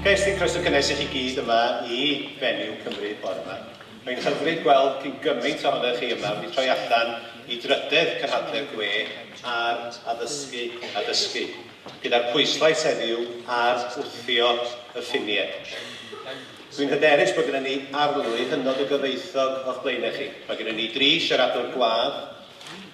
Cais i croeso cynnes i chi gyd yma i Fenyw Cymru bore yma. Mae'n hyfryd gweld cyn gymaint ohonoch chi yma wedi troi allan i drydedd cynhadledd gwe ar Addysgu a Dysgu, gyda'r pwyslais heddiw ar wthio y ffiniau. Dwi'n hyderus bod gyda ni arlwy hynod o gyfoethog o'ch blaenau chi. Mae gyda ni dri siaradwr gwadd,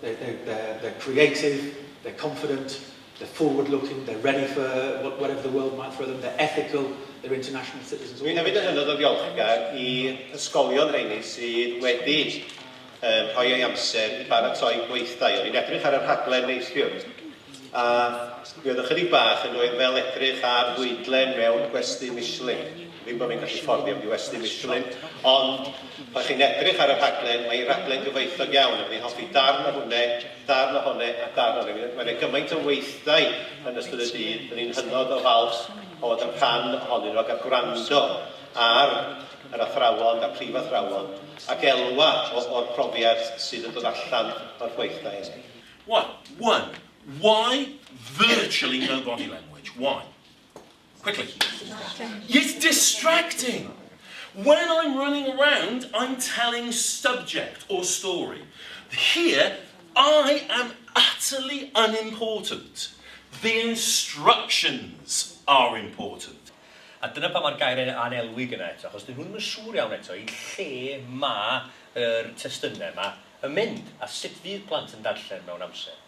They're, they're, they're creative, they're confident, they're forward looking, they're ready for whatever the world might throw them, they're ethical, they're international citizens. Dwi'n hefyd yn hynod o ddiolchgar i ysgolion rheini sydd wedi um, rhoi ei amser i baratoi gweithdai. O'n i'n edrych ar y rhaglen neithiwr A mi oedd ychydig bach yn dweud fel edrych ar fwydlen mewn gwesty Michelin. Ddim bod fi'n gallu fforddio mynd i westy Michelin, ond pan chi'n edrych ar y rhaglen, mae hi'n rhaglen gyfoethog iawn, a fi'n hoffi darn o hwne, darn o hone a darn o hone. Mae yna gymaint o weithdai yn ystod y dydd, ry'n ni'n hynod o falch o fod yn rhan ohonyn nhw ac a gwrando ar yr athrawon a'r prifathrawon ac elwa o, o'r profiad sydd yn dod allan o'r gweithdai hynny. Why? One, why virtually no body language? Why? Quickly. It's distracting. When I'm running around, I'm telling subject or story. Here, I am utterly unimportant. The instructions are important. A dyna pa mae'r gair yn anelwig yna eto, achos dyn nhw'n yn siŵr iawn eto i lle mae yr testunau yma. yn mynd a sut fydd plant yn darllen mewn amser.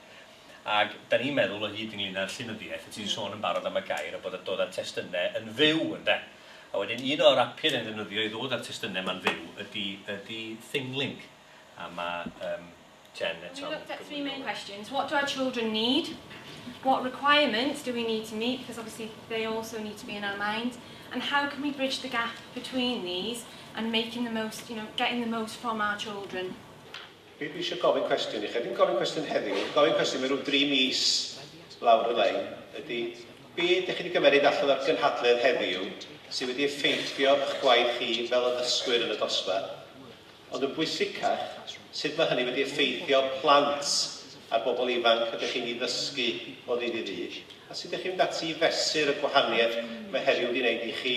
Ac 'da ni'n meddwl o hyd ynglyn â'r llenyddiaeth, o' ti'n sôn yn barod am y gair a bod y dod a'r testynne yn fyw ynde? A wedyn un o'r apiau 'da ni'n ddefnyddio i ddod a'r testynne 'ma'n fyw ydi ydi Thinglink a ma' yym Jen eto'n Well we looked at three main questions, what do our children need, what requirements do we need to meet, because obviously they also need to be in our minds, and how can we bridge the gap between these, and making the most, you know, getting the most from our children. Dwi eisiau gofyn cwestiwn i chi, ddim gofyn cwestiwn heddiw, gofyn cwestiwn mewn rhyw dri mis lawr y lein, ydy, be ydych chi wedi gymeryd allan o'r gynhadledd heddiw sydd wedi effeithio eich gwaith chi fel addysgwyr yn y dosbarth, ond yn bwysicach, sut mae hynny wedi effeithio plant a'r bobl ifanc ydych chi'n ei ddysgu o ddydd i ddydd, a sut ydych chi'n mynd ati i fesur y gwahaniaeth mae heddiw wedi wneud i chi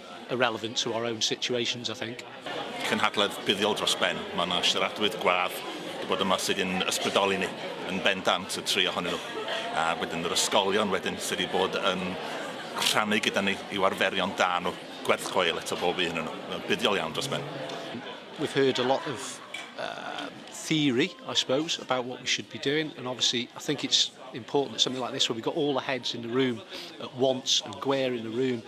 irrelevant to our own situations, I think. Cynhadledd buddiol dros ben. Mae yna siaradwyr gwadd wedi bod yma sydd yn ysbrydoli ni yn bendant, y tri ohonyn nhw. A wedyn yr ysgolion wedyn sydd wedi bod yn rhannu gyda ni i'w arferion da nhw, gwerth chweil eto bob un yn nhw. Buddiol iawn dros ben. We've heard a lot of uh, theory, I suppose, about what we should be doing. And obviously, I think it's important that something like this, where we've got all the heads in the room at once and Gwer in the room,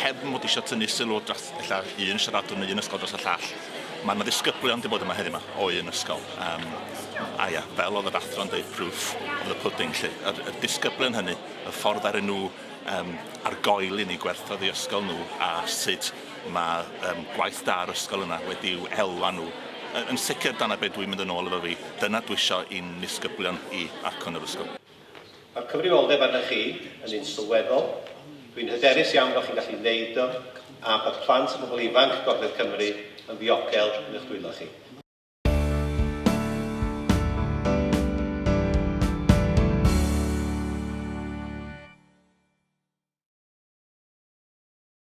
heb fod eisiau tynnu sylw dros ella un siaradwr neu un ysgol dros y llall, mae yna ddisgyblion wedi bod yma heddiw yma o un ysgol. Um, a ia, fel oedd yr athro'n dweud, proof of the pudding, lle. Yr, yr disgyblion hynny, y ffordd ar nhw um, ar goel i ni gwerthoedd i ysgol nhw a sut mae um, gwaith da ar ysgol yna wedi'w elwa nhw. Yn, yn sicr, dyna beth dwi'n mynd yn ôl efo fi. Dyna dwi eisiau i'n nisgyblion i acwn yr ysgol. Mae'r cyfrifoldeb arnoch chi yn un sylweddol. Dwi'n hyderus iawn bod chi'n gallu wneud o a bod plant a phobl ifanc Gogledd Cymru yn ddiogel yn eich dwylo chi.